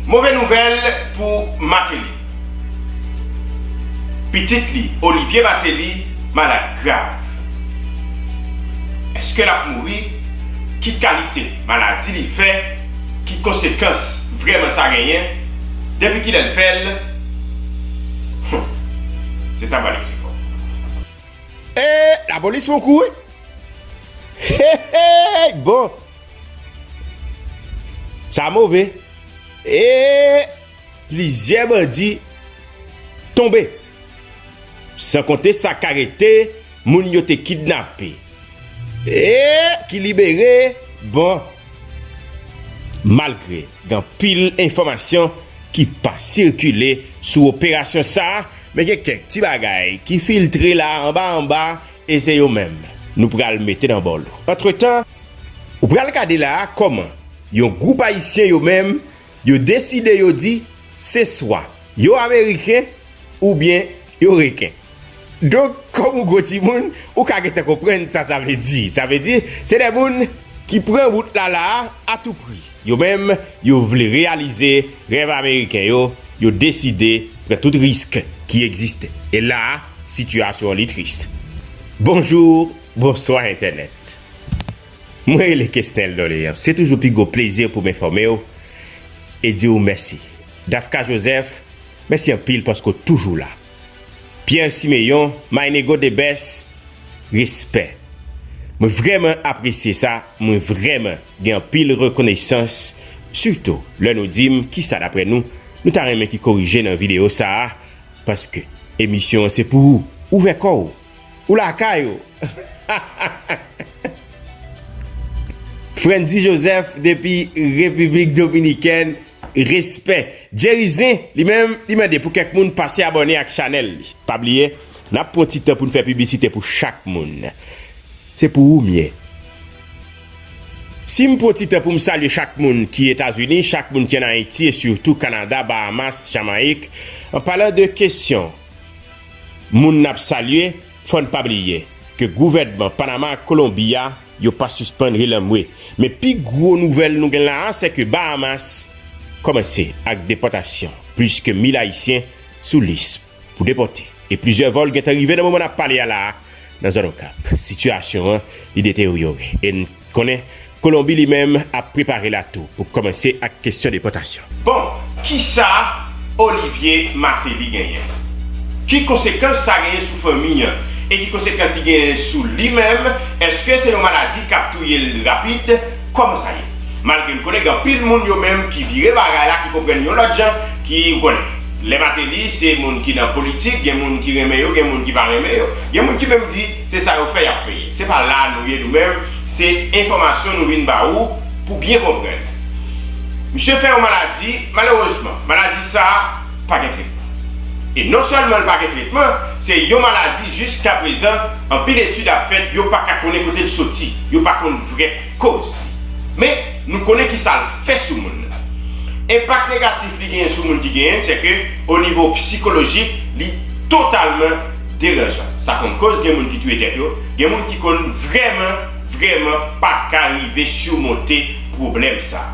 Move nouvèl pou Martelly. Pitit li, Olivier Martelly, malad grav. Eske l ap mouri? Ki kalite maladi li fè? Ki konsekans vrèman sa genyen? Depi kilè l fè l? Hum! Se sa m pral eksplike w. Ee lapolis fon kou wi. Hehehey bon. Sa move! E plizyè bandi tonbe. San konte sa k arete, moun yo te kidnape. E ki libere, bon. Malgre gen anpil enfòmasyon ki pa sikile sou operasyon sa, men gen kèk ti bagay ki filtre la anba anba e se yo menm nou pral mete nan bòlou. Antretan. Ou pral gade la a kòman yon gwoup ayisyen yo menm yo deside yo di se swa yo ameriken oubyen yo reken. Donk kòm ou gwo timoun ou ka gentan konprann sa sa vle di. Sa vle di se de moun ki pran wout la la a atoupri. Yo menm yo vle reyalize rèv ameriken yo, yo deside pran tout risk ki egziste. E la a sitiyasyon li trist. Bonjou, bonswa entènèt. Mwen rele Kesnel Dorleans. Se toujou pi gwo plezi pou m enfòme w e di w mèsi. Dafka Joseph, mèsi anpil paske w toujou la. Pierre Siméon, My Nego The Best, respè. Mwen vrèman apresye sa, mwen vrèman gen anpil rekonesans, sitou lè nou di m kisa daprè nou, nou ta renmen ki korije nan videyo sa a, paske emisyon an se pou ou. Ouvè kò w! Ou lakay ou. Frenddy Joseph depi Repiblik Dominikèn respè. Jerry Zen li menm li mande pou kèk moun pase abòne ak chanèl li. Pa bliye nap pran ti tan poun fè piblisite pou chak moun. Se pou ou m ye. Sim pran ti tan poum salye chak moun ki Etazini, chak moun ki an Ayiti e sitou Kanada, Bahamas, Jamayik, an palan de kesyon. Moun n ap salye, fò n pa bliye ke gouvènman Panama ak Kolonbi a, yo pa sispann relanmwe. Men pi gwo nouvèl nou gen la a, se ke Bahamas kòmanse ak depòtasyon plis ke 1,000 Ayisyen sou lis pou depòte. E plizyè vòl gen tan rive nan moman n ap pale a la a nan zòn Okap. Sitiyasyon an, li deteryore. E n konnen Kolonbi li menm ap prepare la tou pou kòmanse ak kestyon depòtasyon. Bon, kisa Olivye Mateli genyen? Ki konsekans sa genyen sou fanmi an? E ki konsekans li genyen sou li menm? Eske se yon maladi kap touye l rapid? Kòman sa ye? Malgre m konnen gen anpil moun yo menm ki vire bagay la, ki konprann yon lòt jan, ki, ou konnen. Lè Mateli se moun ki nan politik, gen moun ki renmen yo, gen moun ki pa renmen yo. Gen moun ki menm di. Se sa yo fè yap veye. Se pa la nou ye nou menm, se enfòmasyon nou vin ba ou pou byen konprann. Misye fè yon maladi, malerezman, maladi sa a pa gen tretman. E non sèlman l pa gen tretman, se yon maladi jiskaprezan anpil etid ap fèt yo pa ka konnen kote l soti, yo pa konn vrè koz li. Men, nou konnen ki sa l fè sou moun nan. Enpak negatif li genyen sou moun ki genyen l, sèke onivo psikolojik li totalman. deranjan. Sa konn koz gen moun ki touye tèt yo, gen moun ki konn vrèman, vrèman pa ka rive surmonte pwoblèm sa.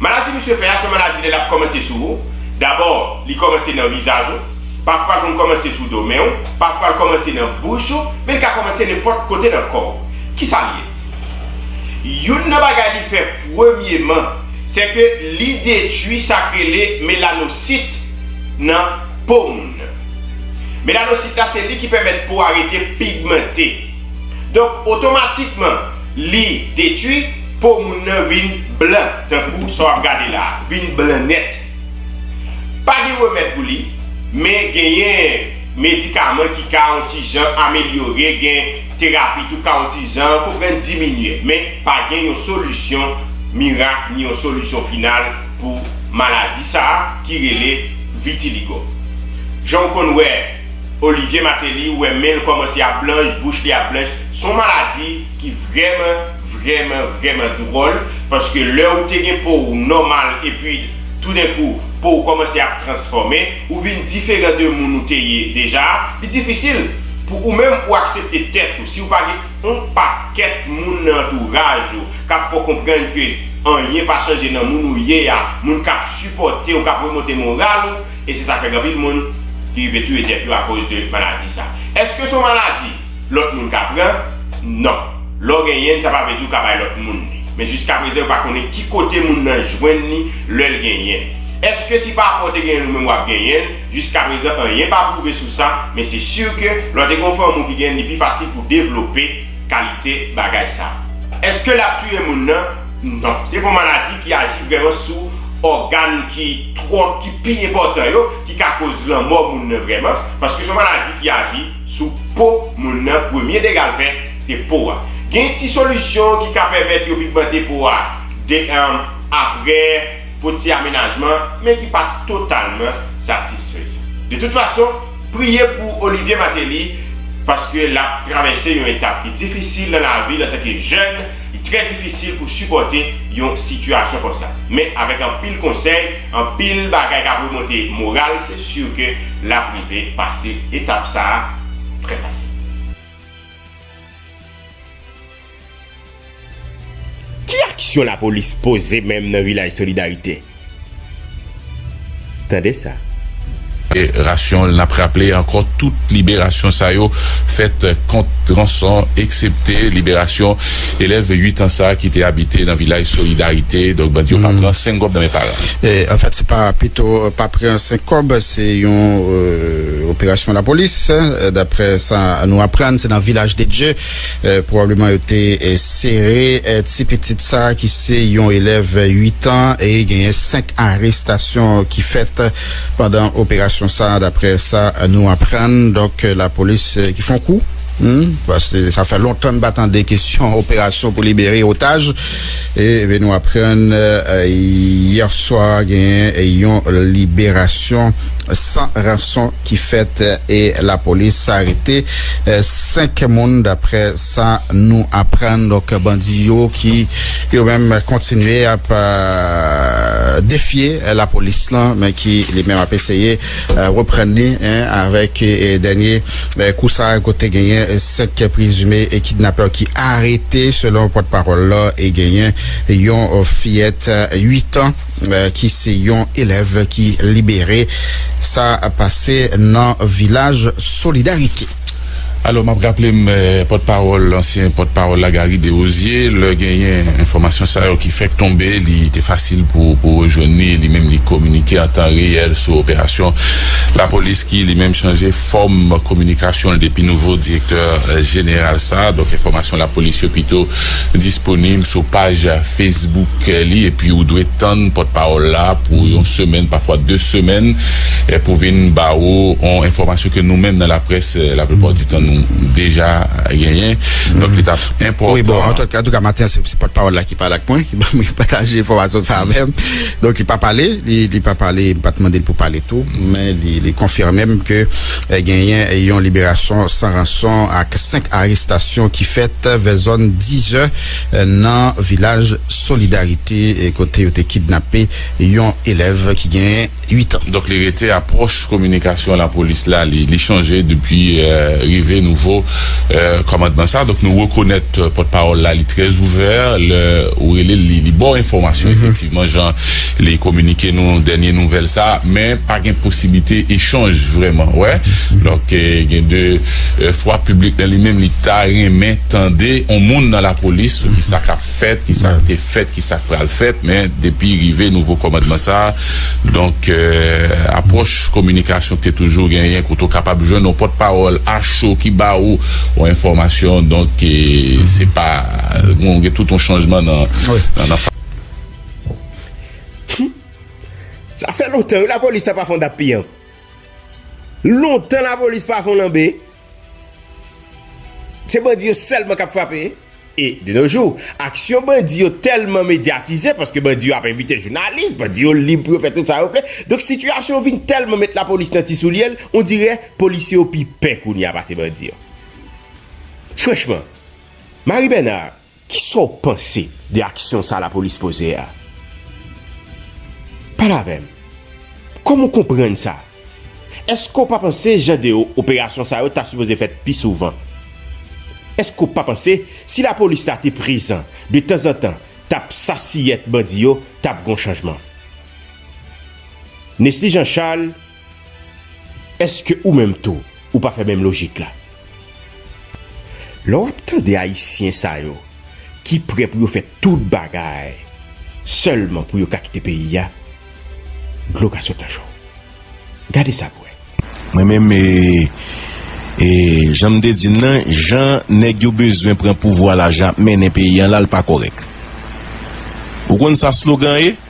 Maladi misye fè a son maladi lè lap kòmanse sou ou, dabò li kòmanse nan vizaj ou, pafwa l konn kòmanse sou do men ou, pafwa l kòmanse nan bouch ou, men l ka kòmanse nenpòt kote nan kò w. Kisa l ye? Youn nan bagay li fè premyeman, sè ke li detwi sa k rele melanosit nan po moun. Melanosit la se li ki pèmèt po a rete pigmante. Donk otomatikman li detwi, po moun nan vin blan tankou sa w ap gade la a, vin blan nèt. Pa gen remèd pou li, men genyen medikaman ki ka on ti jan amelyore, gen terapi tou ka on ti jan konprann diminye. Men pa gen yon solisyon mirak ni yon solisyon final. pou maladi sa a ki rele vitiligo. Jan w konn wè Olivier Martelly, ou wè men l kòmanse ap blanch, bouch li ap blanch, s on maladi ki vrèman, vrèman, vrèman dwòl paske lè ou te gen po w nòmal epi toudenkou po w kòmanse ap transfòme, ou vin diferan de moun ou te ye deja a, li difisil pou ou menm ou aksepte tèt ou si w pa gen on pakèt moun nan antouraj ou K ap fè w konprann ke anyen pa chanje nan moun ou ye a, moun k ap sipòte w, k ap remonte moral ou, e se sa k fè gen anpil moun ki rive touye tèt yo akoz de maladi sa. Èske se yon maladi lòt moun ka pran? Non. Lè w genyen l, sa pa vle di w ka bay lòt moun li. Men jiskaprezan yo pa konnen ki kote moun nan jwenn li lè l genyen l. Èske si papa w te genyen l ou menm w ap genyen l? Jiskaprezan anyen pa pwouve sou sa, men se si ke lè w te gen yon fanmi w ki genyen l, li pi fasil pou w devlope. kalite bagay sa. Eske lap touye moun nan? Non. Se yon maladi ki aji vreman sou ògan ki twò ki pi enpòtan yo ki ka koz lanmò moun nan vreman paske se yon maladi ki aji sou po moun nan premye degal fè se po a. Gen ti solisyon ki ka pèmèt yo pigmante po a de apre pou ti amenajman men ki pa totalman satisfezan. De tout fason. Priye pou Olivier Martelly paske lap travèse yon etap ki difisil nan lavi l antanke jèn, li trè difisil pou sipòte yon sitiyasyon konsa. Men avèk anpil konsèy, anpil bagay kap remonte moral se sur ke lap rive pase etap sa trè fasil. Ki aksyon lapolis poze menm nan vilaj solidarite? Tande sa. Rasyon nap raple ankò tout liberasyon sa yo fèt kont ranson eksepte liberasyon elèv 8 an sa ki te abite nan vilaj solidarite donk bandi yo pa pran sengob nan men paran. Anfèt se pa pito pa pran senkòb se yon operasyon lapolis daprè sa nou aprann se nan vilaj de dye. Pwobableman yo te sere ti pitit sa a ki se yon elèv 8 an e genyen 5 arestasyon ki fèt pandan operasyon sa a daprè sa nou aprann. Donk lapolis ki fon kou. Paske sa fè lontan n pa tande kesyon operasyon pou libere otaj. E nou aprann yèswa genyen yon liberasyon san ranson. ki fèt e lapolis arete 5 moun daprè sa nou aprann donk bandi yo ki yo menm kontinye ap defye lapolis lan men ki li menm ap eseye reprann li avèk dènye kou sa kote genyen 5 prezime kidnapè ki arete selon pòt pawòl la e genyen yon fiyèt 8 an. ki se yon elèv ki libere. Sa pase nan vilaj solidarite. Alò map raple m pòt pawòl ansyen pòt pawòl la Garry Desrosiers lè genyen enfòmasyon sa yo ki fèk tonbe li te fasil pou rejwenn li, li menm li kominike an tan reyèl sou operasyon lapolis ki li menm chanje fòm kominikasyon l depi nouvo direktè jeneral sa donk enfòmasyon lapolis yo pito disponib sou paj Facebook li epi ou dwe tann pòtpawòl la pou yon semèn pafwa 2 semèn pou vin ba ou yon enfòmasyon ke nou menm nan laprès la plupart du tan nou deja genyen donk li tap enpòtan. Antouka maten an se pòtpawòl la ki pale ak mwen ki banm ki pataje enfòmasyon sa avèm donk li pa pale li pa pale m pat mandel pou pale tou men li konfimem ke Genyen yon liberasyon san ranson ak 5 arestasyon ki fèt vè zòn 10 zè nan vilaj Solidarite kote yo te kidnape yon elèv ki genyen 8 an. Donk li rete apwòch kominikasyon lapolis la li chanje depi rive nouvo kòmandman sa. Donk nou rekonèt pòtpawòl la li trè ouvè lè ou rele l li ba w enfòmasyon efektivman. Selman jan li kominike nou dènye nouvèl sa, men pa gen posiblite echanj vrèman wè. Donk gen de fwa piblik nan li menm li ta renmen tande on moun nan lapolis sou ki sa k ap fèt, ki sa k te fèt, ki sa k pral fèt. Men depi rive nouvo kòmandman sa, donk apwòch kominikasyon ki te toujou genyen kote ou kapab jwenn on pòt pawòl a cho ki ba ou on enfòmasyon donk se pa gen tout on chanjman nan. Sa fè lontan wi lapolis sa pa fon dap piyanp. Lontan lapolis pa fon lanbe. Se bandi yo sèlman kap frape. E de no jou, aksyon bandi yo tèlman medyatize paske bandi yo ap envite jounalis, bandi yo lib pou yo fè tout sa yo vle. Donk sitiyasyon vin tèlman met lapolis nan ti soulye l, on dirè polisye yo pi pè kounye a pase bandi yo. Franchman, Marie Bernard. Kisa w panse de aksyon sa lapolis poze a? Pale avè m. Kòman w konprann sa? Èske w pa panse jan de operasyon sa yo ta sipoze fèt pi souvan? Èske w pa panse si lapolis la te prezan de tanzantan tap sasiyèt bandi yo tap gon chanjman? Nesly Jean Charles. Eske ou menm tou ou pa fè menm lojik la? Lè wap tande ayisyen sa yo ki prè pou yo fè tout bagay sèlman pou yo ka kite peyi a, dlo ka sot nan je w. Gade sa pou wè. Mwen menm e jan m te di n nan, jan nèg yo bezwen pran pouvwa la, jan yap mennen peyi an la, l pa kòrèk. Ou konn sa slogan ye?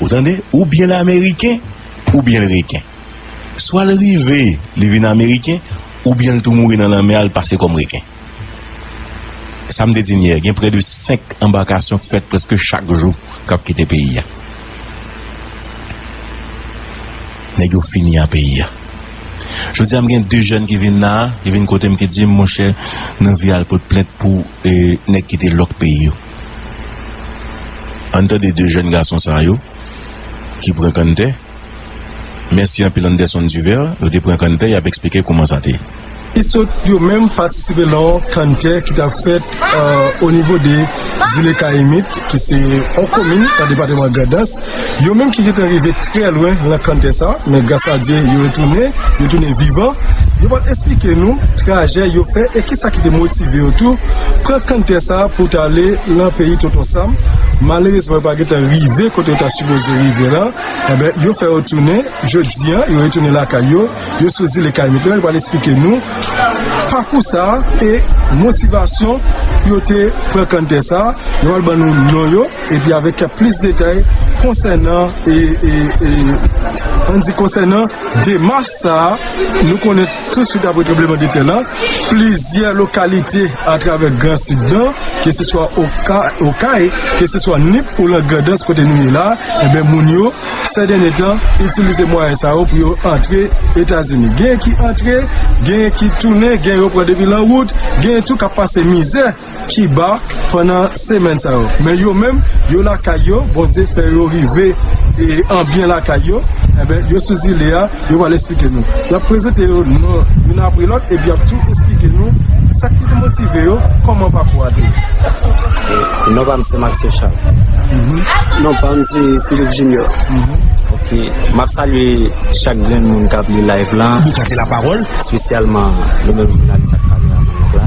Ou tande, ou byen l ameriken, ou byen l reken. Swa l rive, li vin ameriken, ou byen l tou mouri nan lanmè a, l pase kòm reken. Sa m te di n yè, gen prè de 5 anbakasyon k fèt prèske chak jou k ap kite peyi a. Nèg yo fini a peyi a. Jodi a m gen 2 jèn ki vin la a, ki vin kote m ki di m, monchè, n anvi al pot plent pou nèg ki te lòk peyi yo. Ann tande 2 jèn gason sa yo ki pran kanntè. Mèsi anpil Anderson Duvert, yo te pran kanntè yap eksplike kouman sa te. Ki sot yo menm patisipe lan on kanntè ki tap fèt o nivo de zile Kayimit ki se on komin lan depateman Grandans. Yo menm ki gentan rive trè lwen lan kanntè sa, men gras a Dye yo retounen, yo tounen vivan, yo pral esplike nou trajè yo fè e kisa ki te motive yo tou pran kanntè sa pou ta ale lan peyi Tonton Sam, malerezman yo pa gentan rive kote yo ta sipoze rive la, enben yo fè yo tounen jodi an, yo retounen lakay yo, yo sou zile Kayimit lan, yo pral esplike nou pakou sa e motivasyon pou yo te pran kanntè sa, yo pral ban nou non yo. Epi avèk kèk plis detay konsènan an di konsènan demach sa a, nou konnen tou swit apre tranbleman de tè lan, plizyè lokalite atravè gran sid lan, ke se swa Okay, ke se swa Nip ou lan Grandans kote nou ye la, enben moun yo sè dènye tan itilize mwayen sa yo pou yo antre Etazini. Genyen ki antre, genyen ki tounen, genyen yo pran depi lan wout, genyen tou k ap pase mizè. Kiba pandan semèn sa yo men yo menm yo lakay yo Bondye fè yo rive an byen lakay yo enben yo sou zile a yo pral esplike nou y ap prezante yo non youn apre lòt epi y ap tou esplike nou sa ki te motive yo kòman pakou a te ye. Non pa m se Maxo Charles. Non pa m se Philippe Junior. Ok m ap salye chak grenn moun k ap li live la espesyalman nou menm jounalis ak kameraman nou la.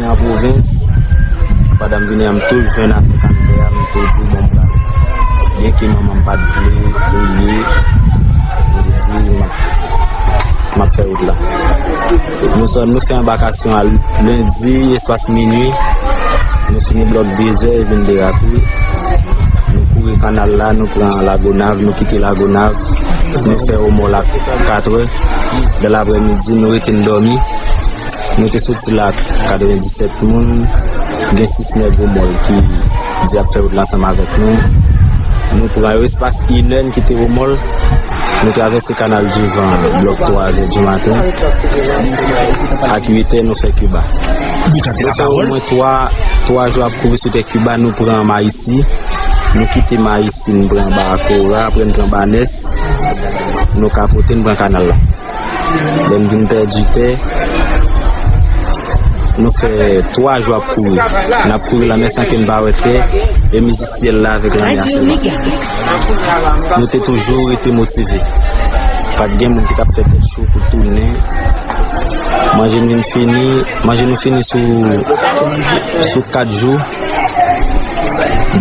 Nan pwovens, pandan m vini an m te jwenn ak kanntè a, m te di bon m pral. Byenke manman m pa t vle premye, m te di m ap m ap fè wout la. Nou sot nou fè anbakasyon a lendi espas minui, nou fini blòk dezè e vin derape, nou kouri kannal la nou pran lagonav, nou kite lagonav, nou fè omòlak katrè, dan lapremidi nou rete n dòmi. Nou te soti la ak 97 moun, gen 6 nèg Omòl ki di y ap fè wout la ansanm avèk nou. Nou pran yo espas inè n kite Omòl, nou travèse kanal Divan blòk 3 zè dimaten, ak uitè nou fè Kiba. Nou fè omwen 3 jou ap kouri sou tè Kiba, nou pran Mayisi, nou kite Mayisi n pran Bakora, apre n pran Banès, nou kapote n pran kanal la. Lè n vin pèdi tè, nou fè twa jou ap kouri. N ap kouri lanmè san ke n pa wè tè e mizi syèl la avèk lanmè a sèlman. Nou te toujou rete motive. Pa t gen moun ki t ap fè tèt cho pou tounen. Manje nou fini sou kat jou.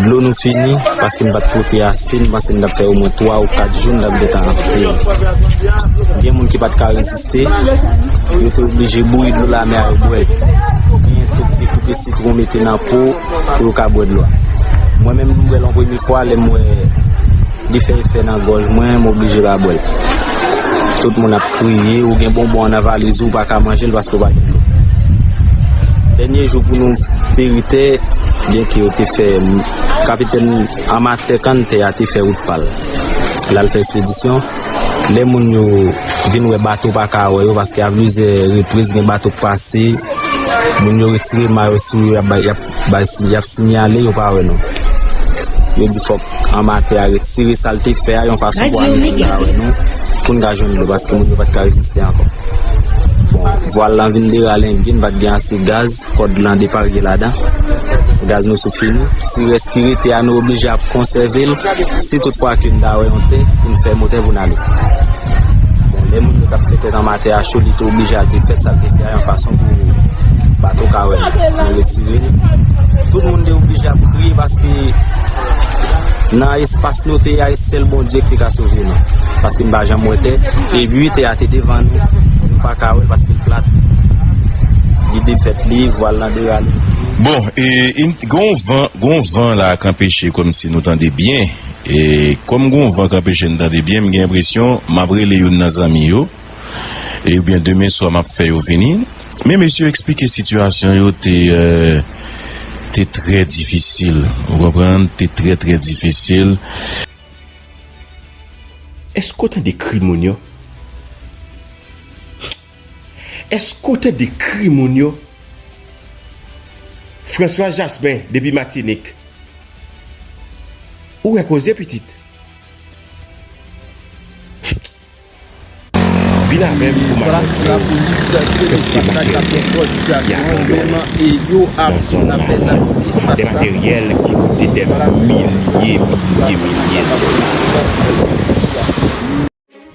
Dlo nou fini paske m pat pote ase, m panse m t ap fè omwen 3 ou 4 jou, m t ap gentan anpil. Gen moun ki pat ka reziste, yo te oblije bouyi dlo lamè a yo bwè l. Genyen tou ki te koupe sitwon mete nan po pou yo ka bwè dlo a. Mwen menm m bwè l an premye fwa lè m wè. Li fè efè nan gòj mwen, m oblije pa bwè l. Tout moun ap kriye, ou gen bonbon an nan valiz ou, ou pa ka manje l paske ou pa gen dlo. Dènye jou pou nou peri tè, byenke yo te fè kapitèn amatè kann tè a te fè wout pa l, l al fè espedisyon, lè moun yo vin wè bato pa ka wè yo paske a plizyè repriz gen bato k pase, moun yo retire mayo sou yo y ap bay sinyale yo pa wè nou. Yo di fòk. anba tè a retire sa l te fè a yon fason pou anime l la avè nou pou n ka jwenn dlo paske moun yo pa t ka reziste ankò. Bon, vwal lan vin deralenbe, n pa t gen ase gaz, kòd lan deparye ladan, gaz nou sou fini. Ti rès ki rete a nou oblije ap konsève l si tout fwa ke n ta wè yon tè pou n fè motè pou n ale. Bon, lè moun yo tap fè tè nan matè a cho, li te oblije al te fèt sa l te fè a yon fason pou bato ka wè l. Yo retire l. Tout moun te oblije ap kriye paske nan espas nou te a, e sèl Bondye ki te ka sove nou. Paske nou pa janm wè tè. E pi tè a te devan nou, nou pa ka wè l paske l plat. Li defèt li, vwal lan derale. Bon, e gen yon van, gen yon van la k anpeche kòmsi nou tande byen. E kòm gon van k anpeche n tande byen m gen enpresyon m ap rele youn nan zanmi yo e oubyen demen swa m ap fè yo vini men mesye yo eksplike sitiyasyon yo te te trè difisil ou konprann te trè trè difisil. Eske w tande kri moun yo? Eske w te dekri moun yo? François Jasmin depi Matinik Ou wè koze pitit Vin avè m pou m akonte w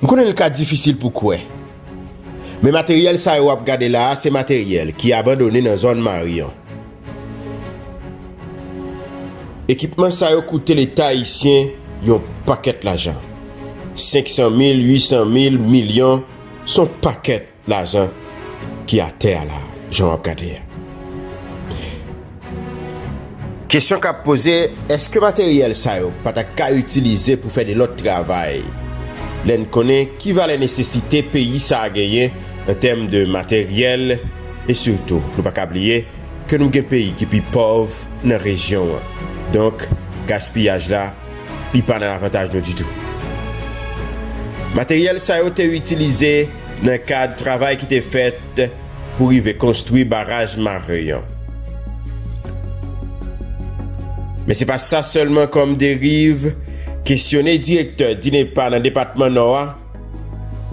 M konnen li ka difisil pou kwè, men materyèl sa yo w ap gade la a se materyèl ki abandone nan zòn Maryon. Ekipman sa yo koute Leta ayisyen yon pakèt lajan. 500 mil, 800 mil, milyon, s on pakèt. Lajan ki atè a la jan wap gade a. Kesyon kap poze eske materyèl sa yo pa ta ka itilize pou fè de lòt travay lè n konnen ki valè nesesite peyi sa genyen an tèm de materyèl e sitou nou pa ka bliye ke nou gen peyi ki pi pòv nan rejyon an donk gaspiyaj la li pa nan avantaj nou ditou. Materyèl sa yo te itilize. nan kad travay ki te fèt pou rive konstwi baraj Marin an. Men se pa sa sèlman kòm deriv, kesyone direktè DINEPA nan depatman Nò a,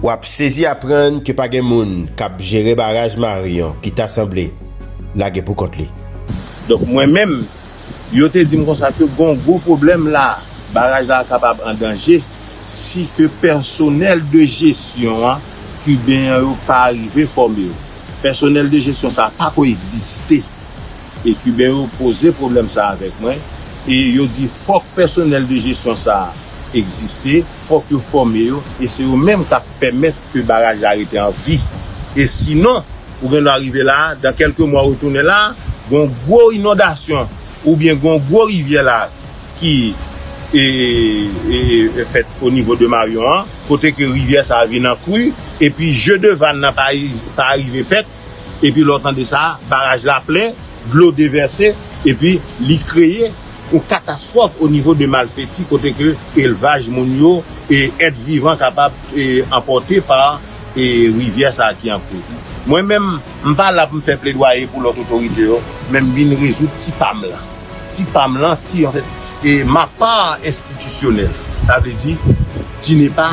w ap sezi aprann ke pa gen moun k ap jere baraj Marin an ki ta sanble lage pou kont li. Donk mwen menm, Yo te di m konsa ke gon gwo pwoblèm la, baraj la kapab an danje si ke pèsonèl de jesyon an kiben an yo pa rive fòme yo. Pèsonèl de jesyon sa a pa ko egziste. E kiben yo poze pwoblèm sa a avèk mwen e yo di fòk pèsonèl de jesyon sa a egziste, fòk yo fòme yo e se yo menm k ap pèmèt ke baraj la rete an vi. E sinon, Ou gen dwa rive la, dan kelke mwa ou tounen la, gon gwo inondasyon ou byen gon gwo rivyè la ki fèt o nivo de Maryon an, kote ke rivyè sa vin an kri, epi je de vann nan pa arive fèt, epi lè w tande sa, baraj la plen, dlo devèse, epi li kreye yon katastwòf o nivo de Malfeti kote ke elvaj moun yo e èt vivan kapab anpòte pa. e rivyè sa ki an koz. Mwen menm, m pa la pou m fè pledwaye pou lòt otorite yo, men m vin rezoud ti pa m lan. Ti pa m lan, ti an fèt, e ma part institutionnelle, sa vle di, DINEPA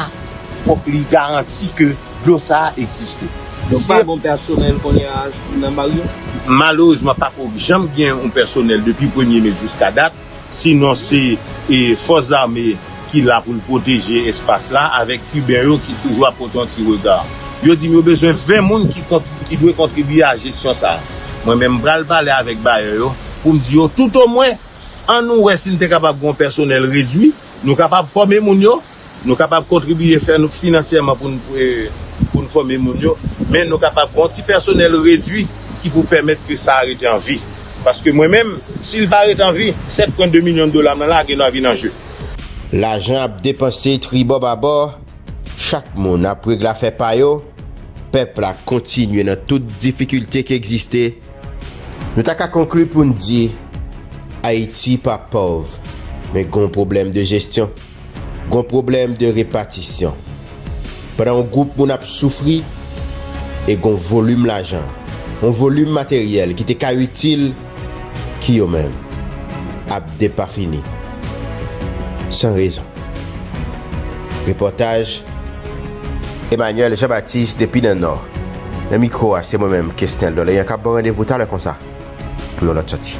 fòk li garanti ke dlo sa a egziste. Donk pa gon pèsonèl kounye a nan bar yo? Malerezman pako janm gen yon pèsonèl depi premye me jiska dat. si non se fòs zame ki la pou l pwoteje espas la avèk kiben yo ki toujou ap pote yon ti rega. Yo di m yo bezwen 20 moun ki dwe kontribiye a jesyon sa. Mwen menm m pral pale avèk bayè yo pou m di yo toutomwen an nou wè si n te kapab gen yon pèsonèl redui, nou kapab fòme moun yo. Nou kapab kontribye fè nou finansyèman pou nou fòme moun yo, men nou kapab gen yon ti pèsonèl redwi ki pou pèmèt ke sa a rete an vi. Paske mwen menm, si li pa rete an vi, 7 pwen 2 milyon dola mwen lage nan vin an je. Lajan ap depanse tribò babò, chak moun ap règle afè pa yo, pèp la kontinye nan tout difikilte ki egziste, nou ta ka konkli pou n di, Ayiti pa pòv, men gen yon pwoblèm de jesyon. Gon pwoblèm de repatisyon. Pandan yon gwoup moun ap soufri e gon volim lajan, yon volim materyèl ki te ka itil ki yo menm ap depafini san rezon. Repòtaj Emmanuel Jean Baptiste depi nan Nò. Nan mikwo a se mwen menm Kesnel Dorlean kap ban randevou talè konsa pou yon lòt sòti.